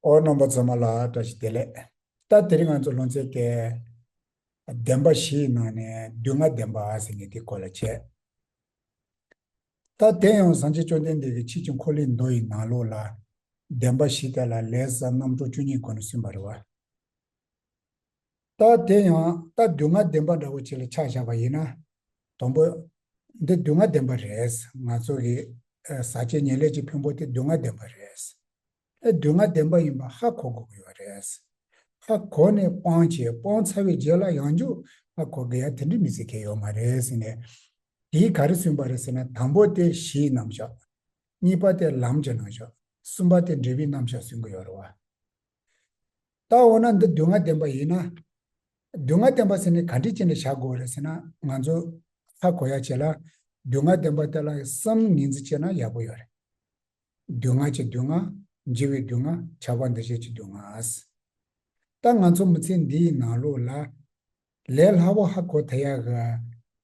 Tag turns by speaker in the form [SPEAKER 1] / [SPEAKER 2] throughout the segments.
[SPEAKER 1] ཨོ་རྣམ་པ་རྫོགས་མ་ལ་བཀྲ་ཤིས་བདེ་ལེགས། ལྟ་དེ་རིང་ང་ཚོ་ལོ་ཚད་བརྒྱད། བདེན་པ་བཞི་ཡི་ནང་ནས་བདུན་ལྔ་བདེན་པ་ཟེར་ནས་དེ་སྐོར་ལ་དཔྱད། ད་དེ་ཡང་བཟང་ཆེ་བཅོ་ལྡན་འདས་ཀྱི་ཕྱིས་ཀྱི་འཁོར་ལིའི་མདོ་ཡི་ནང་ལུགས་ལ། བདེན་པ་བཞི་དེ་ལ་ལས་བཟའ་རྣམ་གྲོལ་བཅུ་གཉིས་སྒོ་ནས་སུན་པར་བ། རྟགས་དེ་ཡང་རྟགས་སྡུག་བསྔལ་བདེན་པ་འདྲ་བོ་ཅིག་ལ་ཆ་བཞག་པ་ཡིན་ན། དང་པོ། འདི་སྡུག་བསྔལ་བདེན་པ་རེད། ང་ཚོ་གི་ཟ་བྱེད་ཉེ་ལེགས་ཀྱི་ཕུང་པོ་དེ་སྡུག་བསྔལ་བདེན་པ་རེད། ཨེ་སྡུག་བསྔལ་བདེན་པ་ཡིན་པ་ཧ་གོ་དགོས་ཀྱི་ཡོད་རེད། ཧ་གོ་ནས་སྤང་བྱས་སྤང་ཚར་བའི་རྗེས་ལ་ཡང་མཇུག་ཧ་གོ་དགོས་ཡ་དེ་འདྲའི་མི་ཚེ་གལ་ཡོད་མ་རེད་ཟེར་ནས། དེའི་ག་རེ་སུན་པ་རེད་ཟེར་ན་དང་པོ་དེ་གཞིའི་རྣམ་གཞག། གཉིས་པ་དེ་ལམ་གྱི་རྣམ་གཞག། གསུམ་པ་དེ་འབྲས་བུའི་རྣམ་གཞག་སུན་གྱི་ཡོད་རེད་བ། ད་འོ་ན་འདི་སྡུག་བསྔལ་བདེན་པ་ཡིན་ན། སྡུག་བསྔལ་བདེན་པ་ཟེར་ནས་ག་འདྲི་ཅི་འདྲི་བྱ་དགོས་རེད་ཟེར་ན་ང་ཚོ་ཧ་གོ་ཡ་བྱེད་ལ་སྡུག་བསྔལ་བདེན་པ་དེ་ལ་སམ་ངེས་འཛིན་བྱེད་ན་ཡག་པོ་ཡོད་རེད། སྡུག་བསྔལ་གྱི་སྡུག་བསྔལ། འཇིགས་བའི་སྡུག་བསྔལ་ཆགས་པ་འདི་བཞེས་ཀྱི་སྡུག་བསྔལ། ད་ང་ཚོ་མི་ཚེ་འདིའི་ནང་ལོགས་ལ། ལས་སླ་བོ་ཧ་གོ་ཐལ་ཡག།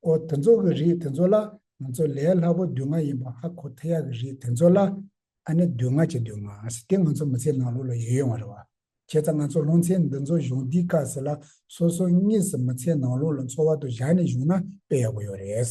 [SPEAKER 1] སྒོ་དེ་ཚོ་གི་རིགས་དེ་ཚོ་ལ་ང་ཚོ་ལས་སླ་པོ་སྡུག་བསྔལ་ཡིན་པ་ཧ་གོ་ཐལ་ཡག་གི་རིགས་དེ་ཚོ་ལ་ཨ་ནི་སྡུག་བསྔལ་གྱི་སྡུག་བསྔལ་ཟེར་དེ་ང་ཚོ་མི་ཚེའི་ནང་ལུགས་ལ་ཡོད་ཡོང་བ་རེད་བ། བྱས་ཙང་ང་ཚོ་ལུང་ཚན་འདི་ཚོ་གཞུང་འདིའི་བཀའ་ཟེར་ལ་སོ་སོ་གཉིས་སུ་མི་ཚེའི་ནང་ལུགས་ལ་འཚོ་བ་དུ་བཞག་ནས་བཞུགས་ན་དཔེ་ཡག་པོ་ཡོད་རེད།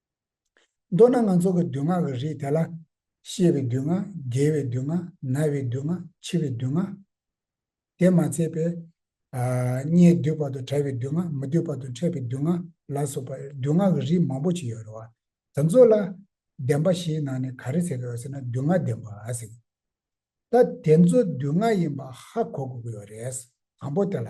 [SPEAKER 1] མདོར་ན་ང་ཚོ་གི་སྡུག་བསྔལ་གི་རིགས་དེ་ལ། ཤི་བའི་སྡུག་བསྔལ། རྒས་བའི་སྡུག་བསྔལ། ན་བའི་སྡུག་བསྔལ། འཆི་བའི་སྡུག་བསྔལ། དེས་མ་ཚད་པའི། མྱེའི་སྡུད་པ་དང་བྲལ་བའི་སྡུག་བསྔལ། མི་སྡུད་པ་དང་འཕྲད་པའི་སྡུག་བསྔལ། ལ་སོགས་པ། སྡུག་བསྔལ་གི་རིགས་མང་པོ་ཞིག་ཡོད་རེད་བ། དེ་ཚོ་ལ། བདེན་པ་བཞིའི་ནང་ནས་ག་རེ་ཟེར་གི་ཡོད་ཟེར་ན་སྡུག་བསྔལ་བདེན་པ་ཟེར་གི། ད་དེ་ཚོ་སྡུག་བསྔལ་ཡིན་པ་ཧ་གོ་དགོས་ཀྱི་ཡོད་རེད། དང་པོ་དེ་ལ།